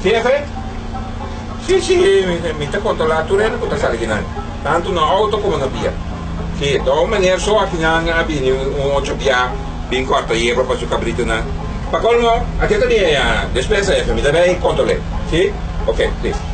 Jefe, Si, si, mi ta controla tur hende cu ta sali kinan, tanto na auto como na bia. Si, ta un manier so aki nan a bini un ocho bia bin corta yebra pa su cabritonan. Pa colmo, aki ta mi despensa, jefe, mi ta bay controle. Si? Ok, listo.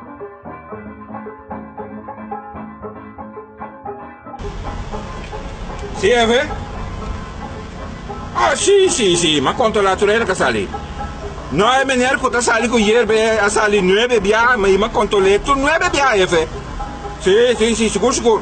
Si e ve? Ah, si, si, si, ma konto la turera ka sali. No e meneer ku ta sali ku yerba e a sali nuebe bia, ma i ma konto le tur nuebe bia e ve. Si, si, si, sigur, sigur.